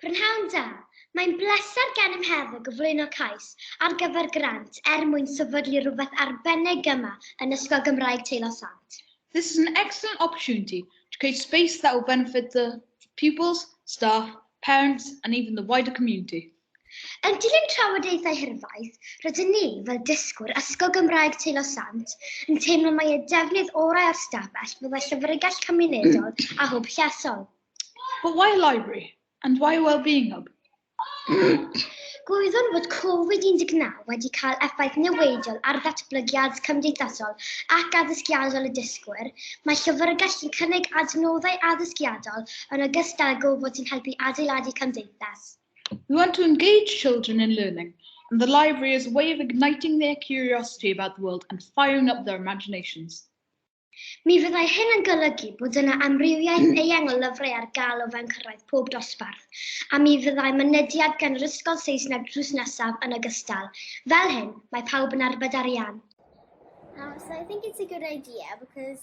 Prynhawn da, mae'n bleser gennym heddiw gyflwyno cais ar gyfer grant er mwyn sefydlu rhywbeth arbennig yma yn Ysgol Gymraeg Teilo Sant. This is an excellent opportunity to create space that will benefit the pupils, staff, parents and even the wider community. Yn dilyn trafodaethau hirfaith, rydyn ni, fel dysgwyr Ysgol Gymraeg Teilo Sant, yn teimlo mai y defnydd orau o'r stafell fyddai llyfrgell cymunedol a hwb llesol. But why a library? And why a well-being hub? Gwyddwn fod Covid 19 wedi cael effaith niweidiol ar ddatblygiad cymdeithasol ac addysgiadol y dysgwyr, mae llyfrgell yn cynnig adnoddau addysgiadol yn ogystal â gofod sy'n helpu adeiladu cymdeithas. We want to engage children in learning and the library is a way of igniting their curiosity about the world and firing up their imaginations. Mi fyddai hyn yn golygu bod yna amrywiaeth eang o lyfrau ar gael o fewn cyrraedd pob dosbarth, a mi fyddai mynediad gan yr ysgol Saesneg drws nesaf yn ogystal. Fel hyn, mae pawb yn arbed arian. Uh, so I think it's a good idea because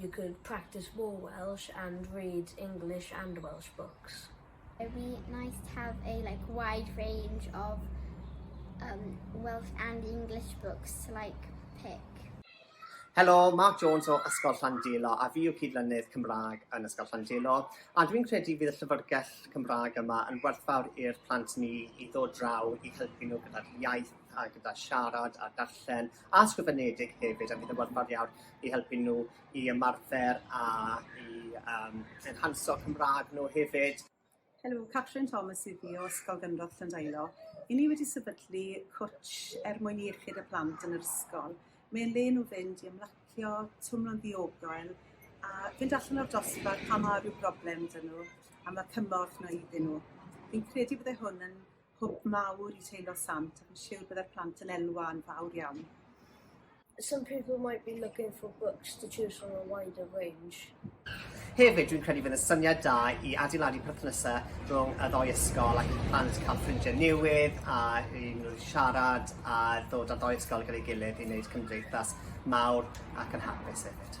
You could practice more Welsh and read English and Welsh books. It would be nice to have a like wide range of um, Welsh and English books to like pick. Helo, Mark Jones o Ysgol Llandilo a fi yw cydlynydd Cymraeg yn Ysgol Llandilo a dwi'n credu fydd y llyfrgell Cymraeg yma yn werthfawr i'r plant ni i ddod draw i helpu nhw gyda'r iaith a gyda siarad a darllen a sgrifenedig hefyd a fydd yn werthfawr iawn i helpu nhw i ymarfer a i um, enhanso Cymraeg nhw hefyd. Helo, Catrin Thomas i fi o Ysgol Gynrodd Llandailo. I ni wedi sefydlu cwtch er mwyn iechyd y plant yn yr ysgol. Mae'n le nhw fynd i ymlacio, twmlo'n ddiogel, a fynd allan o'r dosbarth pan mae rhyw broblem dyn nhw, a mae cymorth na iddyn nhw. Fi'n credu byddai hwn yn hwb mawr i teilo sant, ac yn siŵr byddai'r plant yn elwa yn fawr iawn. Some people might be looking for books to choose from a wider range. Hefyd, dwi'n credu fydd yn syniad da i adeiladu perthnasau rhwng y ddoi ysgol ac i plant cael ffrindiau newydd a i nhw siarad a ddod â ddoi ysgol gyda'i gilydd i wneud cymdeithas mawr ac yn hapus hefyd.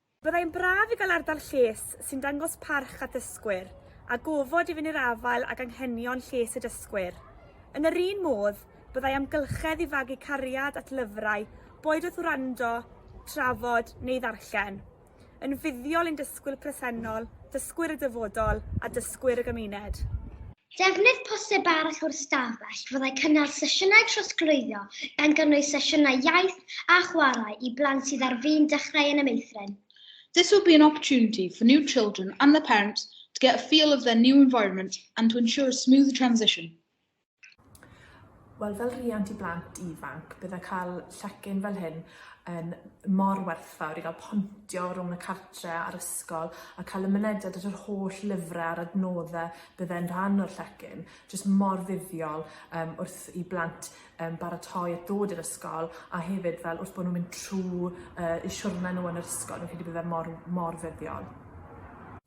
Byddai'n braf i gael ardal lles sy'n dangos parch at ddysgwyr, a gofod i fyny'r afael ag anghenion lles y dysgwyr. Yn yr un modd, byddai amgylchedd i fagu cariad at lyfrau, boed wrth wrando, trafod neu ddarllen, yn fuddiol i'n dysgwyr presennol, dysgwyr y dyfodol a dysgwyr y gymuned. Defnydd posib arall o'r stafell fyddai cynnal sesiynau trosglwyddo gan gynnwys sesiynau iaith a chwarae i blant sydd ar fin dechrau yn y meithrin. This would be an opportunity for new children and their parents to get a feel of their new environment and to ensure a smooth transition. Wel fel rhiant i blant ifanc bydde cael llecyn fel hyn yn mor werthfawr i gael pontio rhwng y cartre a'r ysgol a cael y mynediad at yr holl lyfre a'r adnodde bydde'n rhan o'r llecyn. Jyst mor fuddiol um, wrth i blant um, baratoi at ddod i'r ysgol a hefyd fel wrth bod nhw'n mynd trwy uh, y siwrne nhw yn yr ysgol, fi'n credu bydde mor, mor fuddiol.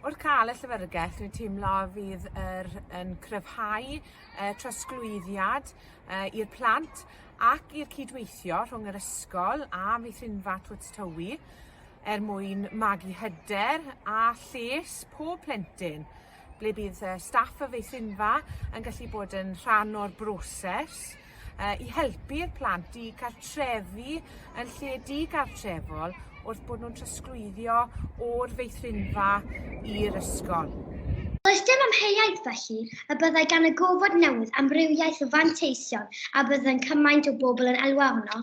Wrth ca'l y llyfyrgell dwi'n teimlo fydd yr yn cryfhau y trosglwyddiad yy i'r plant ac i'r cydweithio rhwng yr ysgol a Meithrinfa Twt Tywi er mwyn magu hyder a lles pob plentyn ble bydd y staff y Feithrinfa yn gallu bod yn rhan o'r broses yy i helpu'r plant i cartrefu yn lle digartrefol wrth bod nhw'n trosglwyddio o'r feithrinfa i'r ysgol. Does dim amheuaeth, felly, y byddai gan y gofod newydd amrywiaeth o fanteision a byddai'n cymaint o bobl yn elwa ohono.